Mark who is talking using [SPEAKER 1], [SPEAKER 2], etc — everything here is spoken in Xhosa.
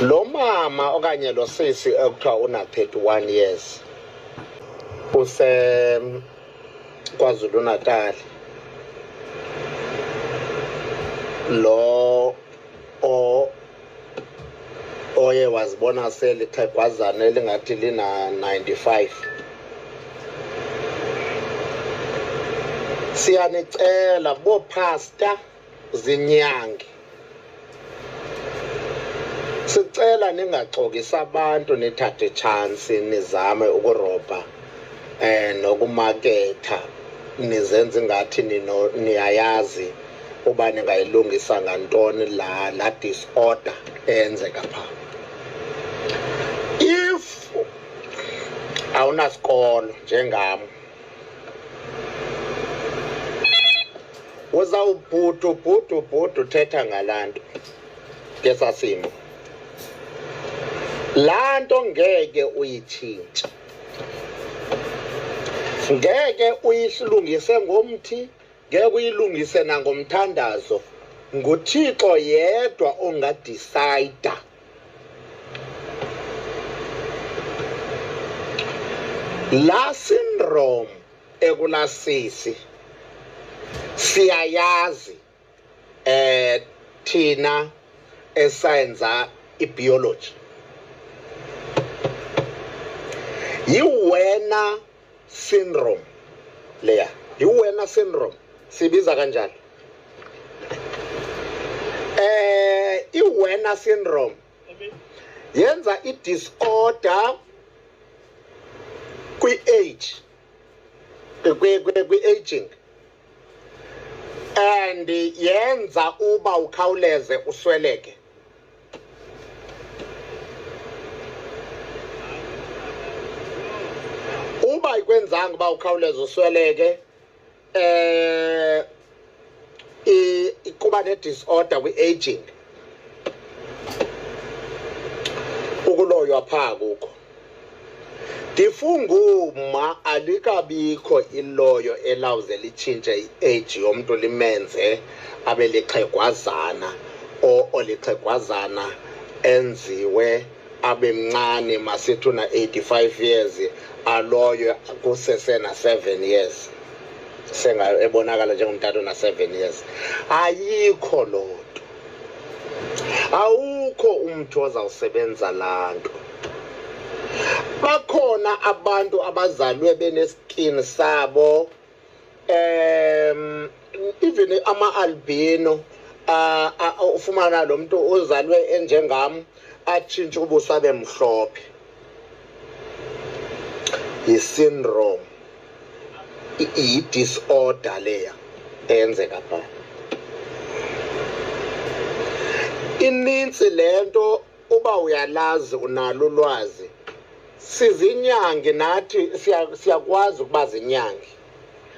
[SPEAKER 1] lo mama
[SPEAKER 2] okanye lo sisi ekuthiwa una-31 years usekwazulu natal lo oye wazibona selixhegwazana elingathi lina-95 siyanicela bophasta zinyange sicela ningaxokisi abantu nithathe itshansi nizame ukurobha um nokumaketha nizenza ingathi niyayazi uba ningayilungisa ngantoni la la disorder eyenzeka pha if awunasikolo njengam uzawubhudu bhudu bhudu uthetha ngalaa nto ngesasimo laa nto ngeke uyitshintshe ngeke uyilungise ngomthi Ngeke uyilungise nangomthandazo. NguThixo yedwa ongadisayida. Laa syndrome ekulaa sisi siyayazi eh thina esayenza ibiology yiwena syndrome leya yiwena syndrome sibiza kanjani eh iwena syndrome yenza i-disorder kwi-age kwi-aging and yenza uba ukhawuleze usweleke uba ikwenzanga uba ukhawuleze usweleke eh kuba ne-disorder kwi-aging ukuloywa phaa kukho ndifunguma alikabikho iloyo elawuze litshintshe i-age yomntu limenze abe lixhegwazana o olixhegwazana enziwe abe mncane masithi una-85 years aloyo kusesena-7 years sengayo ebonakala njengomtata ona-7 years ayikho loo nto awukho umntu ozawusebenza laa nto bakhona abantu abazalwe beneskin sabo um even ama-albino ufumana lo mntu uzalwe enjengam atshintshe ubuso abe mhlophe yi-syndrome yi-disorder leya eyenzeka pha inintsi le nto uba uyalazi unalo ulwazi sizinyangi nathi siyakwazi ukuba zinyangi